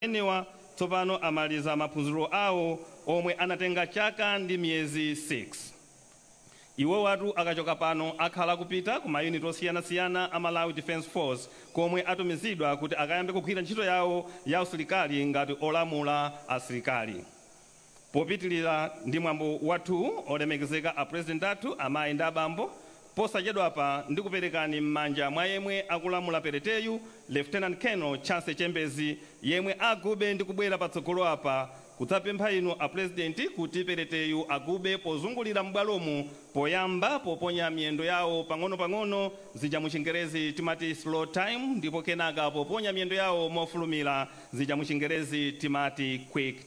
amenewa tsopano amaliza maphunziro awo omwe anatenga chaka ndi miyezi 6. Iwowatu akachoka pano akhala akupita ku mayuniti osiyanasiyana a Malawi Defence Force komwe atumizidwa kuti akayambe kugwira ntchito yawo ya usilikali ngati olamula asilikali. Popitilira ndi mwambo wathu olemekezeka a President athu amayi ndi abambo posachedwapa ndikuperekani mmanja mwa yemwe akulamula pereteyu Lieutenant Colonel Chance Chembezi yemwe agube ndi kubwera patsogolo apa kudzapempha inu a President kuti pereteyu agube pozungulira m'bwalomu poyamba poponya miyendo yawo pang'ono pang'ono zija muchingerezi timati slow time ndipo kenaka poponya miyendo yawo mofulumira zija muchingerezi timati quick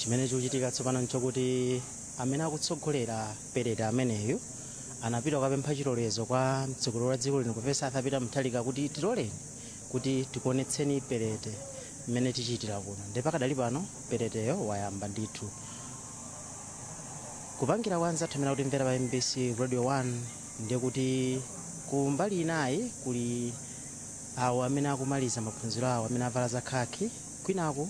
chimene chikuchitika tsopano pano nchokuti amene akutsogolera perete ameneyu anapita kukapempha chilolezo kwa mtsogoleri wa dziko lino profesa arthur peter mutharika kuti tiloleni kuti tikuonetseni perete mmene tichitira kuno ndipo pakadali pano pereteyo wayamba ndithu kupangira anzathu amene akutimvera pa mbc radio 1 ndiye kuti ku mbali inayi kuli awo amene akumaliza maphunziro awo amene avala zakhakhi kwinaku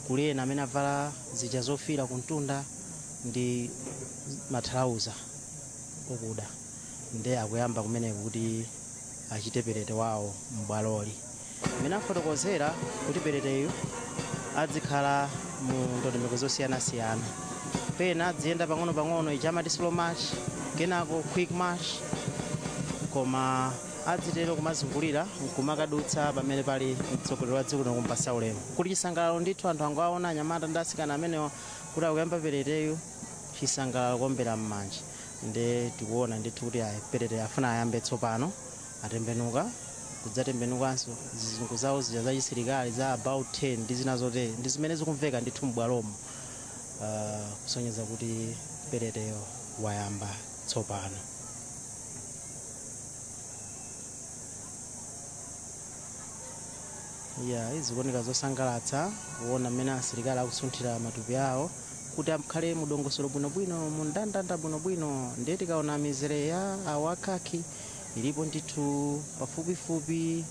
kuli ena amene avala zija zofira kumtunda ndi mathalauza okuda nde akuyamba kumeneko kuti achite perete wawo m'bwaloli mmene afotokozera kuti pereteyu adzikhala mu ndondomeko zosiyanasiyana pena adziyenda pang'ono-pang'ono ija amati slow march kenako quick march koma adzitero kumazungulira nkumakadutsa pamene pali mtsogoleri wa dziko lino kumpasa ulemu kuli chisangalalo ndithu anthu angoaona anyamata ndi asikana amenewa kuti akuyamba pereteyu chisangalalo kuombera m'manja nde tikuona ndithu kuti ayi perete afuna ayambe tsopano atembenuka kudzatembenukanso zizungu zawo zija za chisilikali za about turn ndi zina zotere ndi zimene zikumveka ndithu m'bwalomo uh, kusonyeza kuti pereteyo wayamba tsopano ya izikuoneka zosangalatsa kuona mmene asilikali akusunthira matupi awo kuti akhale mudongosolo bwinobwino mundandanda bwinobwino ndiye tikaona mizere ya awa a khaki ilipo ndithu pafupifupi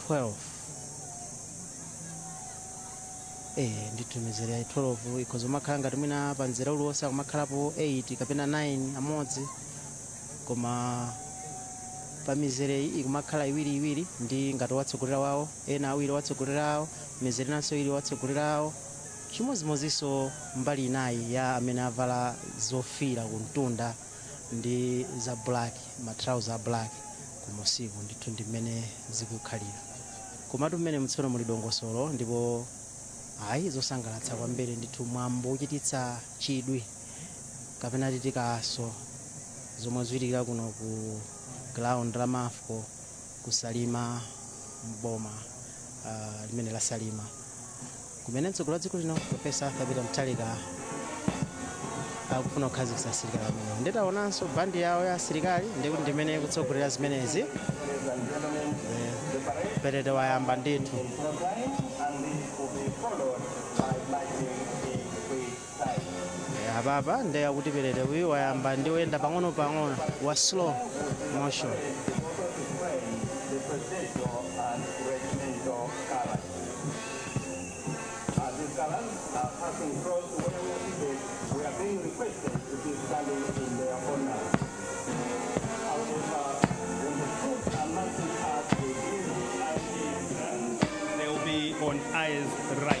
12 eh ndithu mizere ya 12 ikhoza kumakhala ngati mwina pa mzere uliwonse akumakhalapo 8 kapena 9 amodzi koma pa mizere iyi ikumakhala iwiri iwiri ndi ngati owatsogolera awo ena awiri owatsogolera awo mizere inanso ili owatsogolera awo Chimodzimodzinso mbali inayi ya amene avala zofiira kumtunda ndi za black, ma trouser a black kumunsiku, ndithu ndi mmene zikukhalira. Komatu mmenemu tsono muli dongosolo ndipo ayi zosangalatsa kwambiri ndithu, mwambo wochititsa chidwi kapena titi kaso zomwe zikuchitika kuno ku ground la Mafco ku Salima m'boma limene la Salima. kumene mtsogoleri wa dziko lino profesa arthur peter mutharika akufuna kukhazikitsa asilikali amenewo nditaonanso bandi yawo ya asilikali ndikuti ndimene ikutsogolera zimenezi Eh, perete wayamba ndithu Eh, apapa nde akuti perete uyu wayamba ndi oyenda pang'ono pang'ono wa slow motion They will be on eyes right.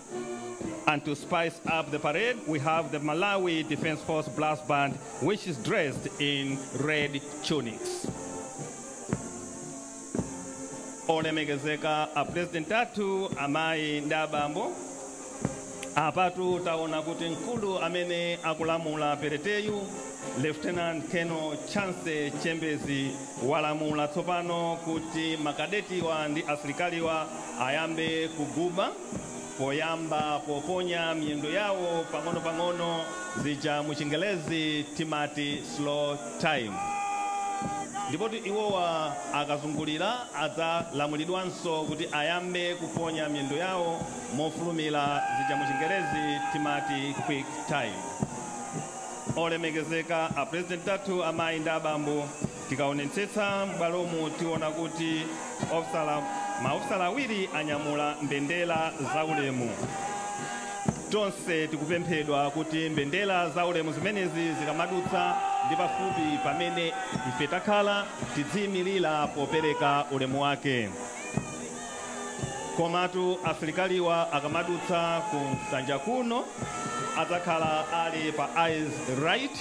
And to spice up the parade, we have the Malawi Defense Force Brass Band, which is dressed in red tunics. olemekezeka a president athu amayi ndi abambo apatu taona kuti mkulu amene akulamula pereteyu lieutenant colonel chance chembezi walamula tsopano kuti makadetiwa ndi asilikaliwa ayambe kuguba poyamba poponya miyendo yawo pang'onopang'ono zija mu chingelezi timati slow time ndipotu iwowa akazungulira adzalamulidwanso kuti ayambe kuponya miyendo yawo mofulumira zija mu chingelezi timati quick time olemekezeka a president athu amayi ndi abambo Tikaonetsetsa m'bwalomu tiona kuti maofisala awiri anyamula mbendera za ulemu. Tonse tikupemphedwa kuti mbendera za ulemu zimenezi zikamadutsa ndi pafupi pamene ife takhala tidziyimilira popereka ulemu wake. Komatu asilikaliwa akamadutsa ku nsanja kuno adzakhala ali pa eyes right.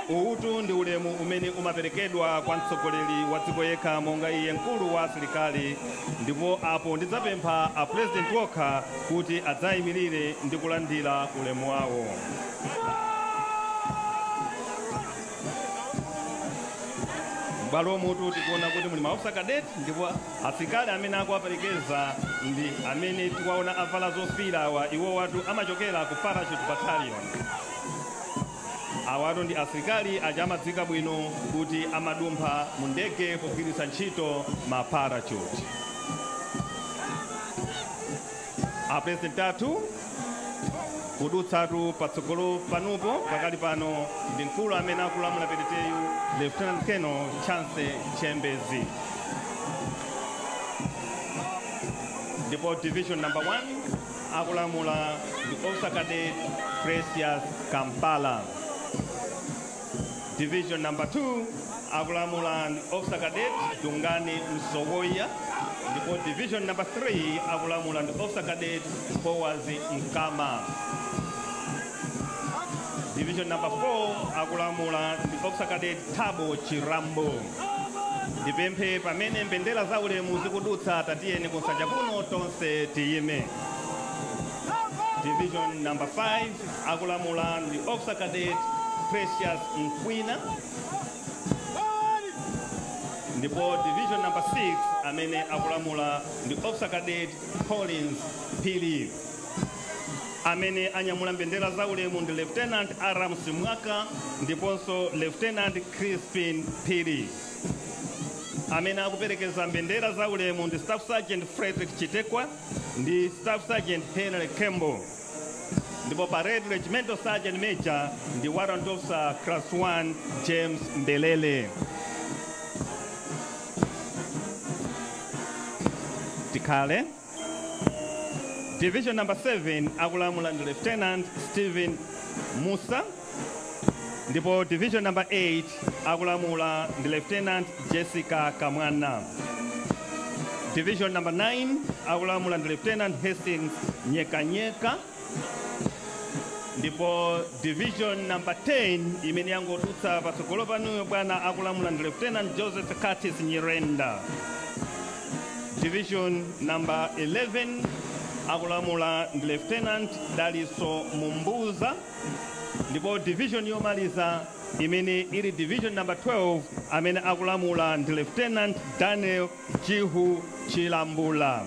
Uwutu ndi ulemu umene umaperekedwa kwa mtsogoleri wa dziko yekha monga iye mkulu wa asilikali, ndipo apo ndidzapempha a president okha kuti adzayimirire ndi kulandira ulemu wawo. Bwalomutu tikuona kuti muli maofisa cadet ndipo Asilikali amene akuwaperekeza ndi amene tikuwaona avala zofiira awa iwowatu amachokera ku parachute battalion. Awatu ndi asilikali aja amadziwika bwino kuti amadumpha mu ndege pogwiritsa ntchito ma parachute. a president athu kudutsatu patsogolo panupo pakali pano ndi mkulu amene akulamula pereteyu lieutenant colonel chance chembezi ndipo division number 1 akulamula ndi officer cadet precious kampala Division number 2 akulamula ndi Officer Cadet Dungani Msowoya ndipo division number 3 akulamula ndi Officer Cadet Boaz Mkama. Division number 4 akulamula ndi Officer Cadet Thabo Chirambo. Ndipemphe pamene mbendera za ulemu zikudutsa tatiyeni kunsanja kuno tonse tiyime. Division number 5 Akulamula ndi Officer Cadet Precious Mkwina ndipo division number 6 amene akulamula ndi Officer Cadet Collins Phiri amene anyamula mbendera za ulemu ndi Lieutenant Aram Simwaka ndiponso Lieutenant Crispin Phiri amene akuperekeza mbendera za ulemu ndi Staff Sergeant Frederick Chitekwa ndi Staff Sergeant Henry Kembo ndipo parade regimental sergeant major ndi warrant officer class 1 james mbelele tikhale division number 7 akulamula ndi lieutenant stephen musa Ndipo division number 8 akulamula ndi Lieutenant Jessica Kamwana. Division number 9 akulamula ndi Lieutenant Hastings Nyekanyeka. Ndipo division number 10 imene yangodutsa patsogolo panuyo bwana akulamula ndi Lieutenant Joseph Curtis Nyirenda. Division number 11 akulamula ndi Lieutenant Daliso Mumbuza. ndipo division yomaliza imene ili division number 12 amene akulamula ndi lieutenant daniel jihu chilambula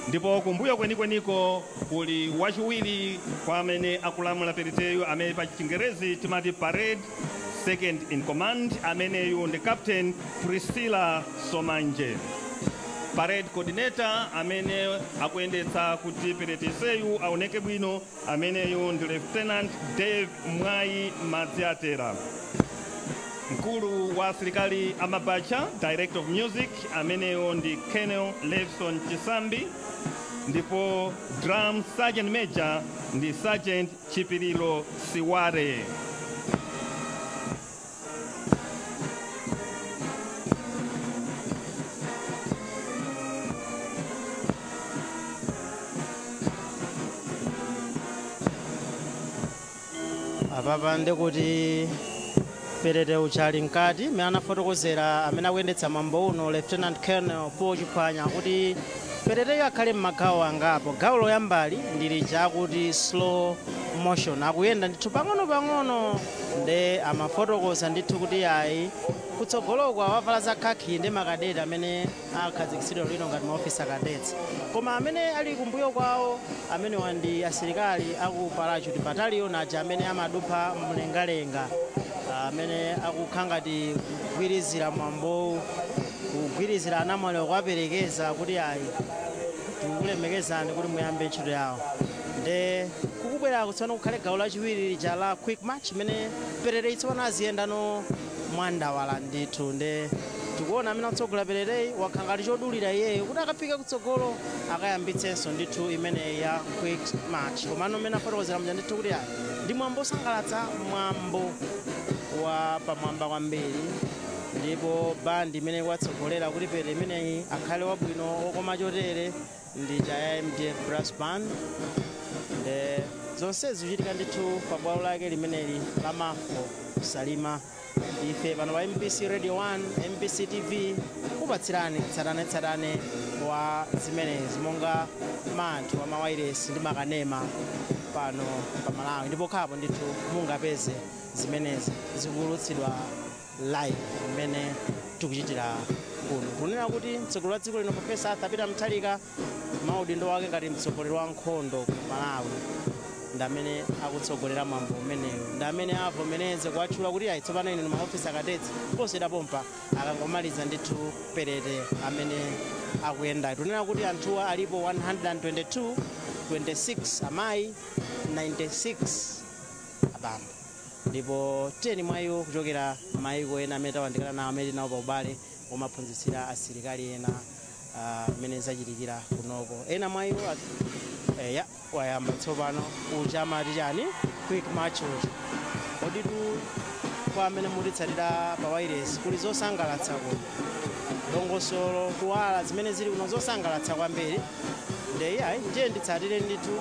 ndipo kumbuyo kwenikweniko kuli wachiwiri kwa amene akulamula pereteyu amene pa chingerezi timati parade second in command ameneyu ndi captain priscilla somanje parade coordinator amene akuyendetsa kuti pereteseyu aoneke bwino Ameneyu ndi Lieutenant Dave Mwayi Madziatera, mkulu wa asilikali a Mabatcha, Director of Music ameneyo ndi Colonel Levson Chisambi, ndipo Drum Sergeant Major ndi Sergeant Chipiliro Siware. apapa ndi kuti perete uchali mkati mmene anafotokozera amene akuyendetsa mwambo uno lieutenant colonel paul chiphwanya kuti pereteyo akhala m'magawo angapo gawo loyamba ndi lija akuti slow motion akuyenda ndithu pang'ono pang'ono Nde amafotokoza ndithu kuti yayi kutsogoloku awavala za khakhi nde ma cadet amene akhazikitsidwe lino ngati ma officer cadets. Koma amene ali kumbuyo kwawo amenewa ndi asilikali aku parachute battalion aja amene amadumpha mlengalenga amene akukhala ngati kugwirizira mwambowu kugwirizira anamwaliwa kuwaperekeza kuti yayi tikulemekezeni kuti muyambe ntchito yanu. nde kukubweraku tsopano kukhala gawo lachiwiri lija la quick march imene pereteyi tsopano aziyendano mwandawala ndithu nde tikuona amene akutsogola pereteyi wakhala ngati chodulira iyeyo kuti akafike kutsogolo akayambitsenso ndithu imeneyi ya quick march komano mmene afotokozera mja ndithu kuti ayi ndi mwambo osangalatsa mwambo wa pamwamba kwambiri ndipo bandi imene ikuwatsogolera kuti perete ameneyu akhale wabwino okoma chotere ndi ija ya mdf brass band zonsezi zikuchitika ndithu pa bwalo lake limeneli la mafo salima ife pano pa mbc radio 1 mbc tv kupatsirani tsatanetsatane wa zimenezi monga manthu wa mawailesi ndi makanema pano pa malawi ndipo khapo ndithu mungapeze zimenezi zikuwulutsidwa live imene tikuchitira kuno kunena kuti mtsogoleri wa dziko lino profesa arthur peter mutharika maudindo wake ngati mtsogoleri wa nkhondo ku malawi ndi amene akutsogolera mwambo umenewu ndi amene avomereze kuwatchula kuti ayi tsopano inu ndi maofisi akadetsi posachedwa pompa akangomaliza ndithu perete amene akuyenda tunena kuti anthuwa alipo 122 26 amayi 96 abambo ndipo 10 mwa iwo kuchokera m'mayiko ena amene tawandikana nawo amene tili nawo pa ubale womaphunzitsira asilikali ena ah, mmene zachitikira kunoko ena mwa iwo at- eh, ya wayamba tsopano uja amati chani quick march uja koditu kwa amene mukutitsatira pa wailesi kuli zosangalatsa kuno dongosolo kuwala zimene zili kuno zosangalatsa kwambiri nde ayi ndiye nditsatire ndithu